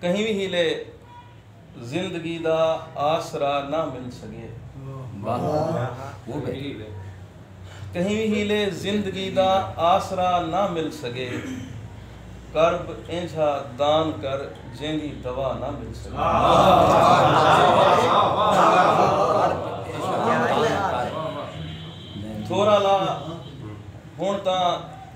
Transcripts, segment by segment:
کہیں وی ہیلے زندگی دا آسرا نہ مل سگے کہیں وی ہیلے زندگی دا آسرا نہ مل سگے کرب اینجھا دان کر جیندی دوا نہ مل سگے تھورا لا ہن تاں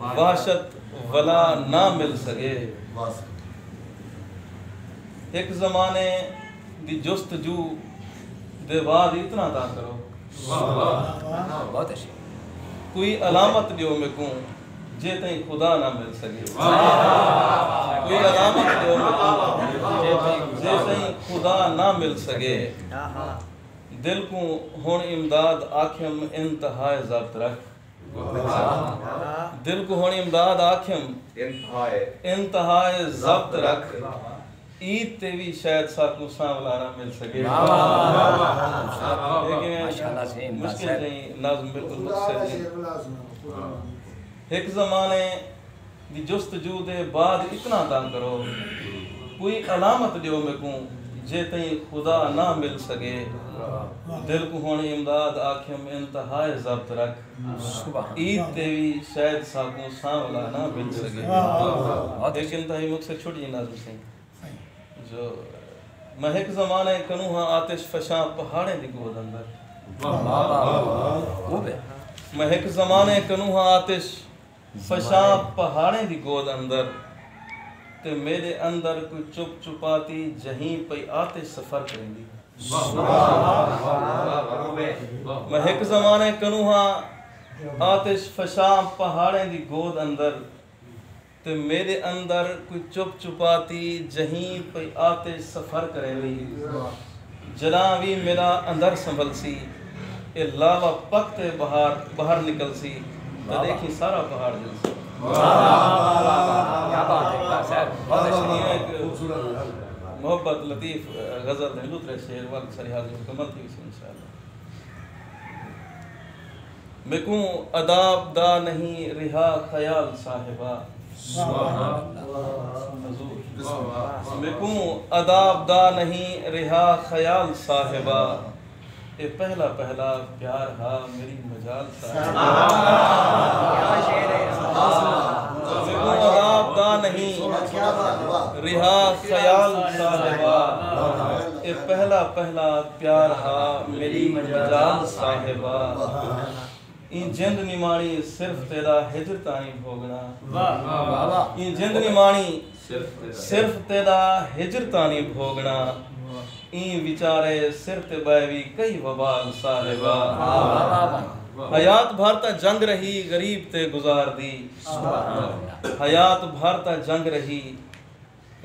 وحشت ولا نہ مل سگے۔ ہک زمانے دی جستجو دے واد اتنا دا کرو۔ کوئی علامت ڈیو میکوں جے تئیں خدا نہ مل سگے۔ کوئی علامت ڈیو میکوں جے تئیں خدا نہ مل سگے۔ دل کوں ہن امداد آکھیم انتہائے ضبط رکھ۔ دل کوں ہنڑ امداد آکھیم انتہا ء ضبط رکھ عید تے وی شاید ساکوں سانولارا مل سگے ہک زمانے دی جستجو دے بعد اتنا تاں کرو۔ کوئی علامت ڈیو میکوں جے تئیں خدا نہ مل سگے۔ دل کوں ہن امداد آکھیم انتہائے ضبط رکھ۔ عید تے وی شاید ساکوں سانولا نہ مل سگے۔ ہک انتہائی مختصر چھوٹی نظم سئیں جو میں ہک زمانہ اے کنوں ہاں آتش فشاں پہاڑیں دی گود اندر۔ میں ہک زمانہ اے کنوں ہاں آتش۔ فشاں پہاڑیں دی گود اندر تے میڈے اندر کوئی چپ چپاتی جہیں پئی آتش سفر کریندی ہے۔ میں ہک زمانے کنوں ہاں آتش فشاں پہاڑیں دی گود اندر تے میڈے اندر کوئی چپ چپاتی جہیں پئی آتش سفر کریندی ہے۔ جݙاں وی میݙا اندر سنبھلسی اے لاوا پک تے بہار ٻاہر نکلسی تاں ݙیکھیں سارا پہاڑ ہلسی۔ محبت لطیف غزل دے ݙوترے شعر ول سریحاضی مکمل تھی ویسی انشاءاللہ۔ میکوں عداب دا نہیں رہا خیال صاحبا۔ میکوں عداب دا نہیں رہا خیال صاحبا۔ اے پہلا پہلا پیار ہا میݙی مجال صاحبا۔ میکوں عداب دا نہیں رہا خیال صاحبا۔ اے پہلا پہلا۔ پیار ہا میݙی مجال صاحبا ایں جند نماݨی صرف تیݙا ہجر تائیں بھوڳݨا ایں جند نماݨی صرف تیݙا ہجر تائیں بھوڳݨا ایں وچارے سر تے ٻئے وی کئی وبال صاحبا حیات بھر تاں جنگ رہی غریب تے گزار دی حیات بھر تاں جنگ رہی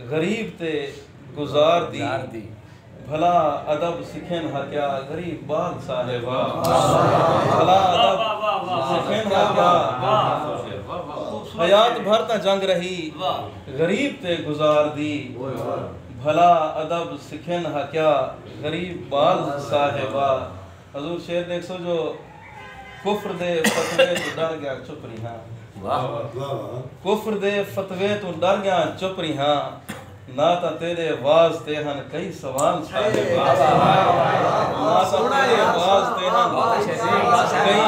غریب تے گزار دی بھلا ادب سکھن ہا کیا غریب بال صاحب بھلا ادب سکھن ہا کیا حیات بھر تاں جنگ رہی غریب تے گزار دی بھلا ادب سکھن ہا کیا غریب بال صاحب حضور شعر ݙیکھسو جو کفر دے فتوے توں ݙر ڳیاں چپ ریہاں۔ کفر دے فتوے توں ݙر ڳیاں چپ ریہاں۔ نہ تاں تیݙے وعظ تے ہن کئی سوال صاحب۔ نہ تاں تیݙے وعظ تے ہن کئی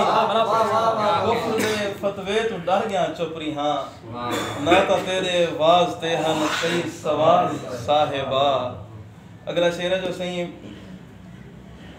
کفر دے فتوے توں ݙر ڳیاں چپ ریہاں۔ نہ تاں تیݙے وعظ تے ہن کئی سوال صاحب۔ اگلا شعر ہے جو سئیں۔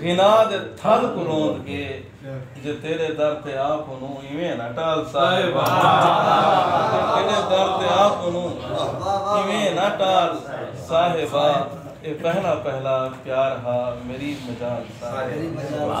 غنا دے تھل کوں روند کے جے تیرے در تے آپ اونوں ایویں نہ ٹال صاحب جے تیرے در تے آپ اونوں ایویں نہ ٹال صاحبا اے پہلا پہلا پیار ہا میری مجال صاحبا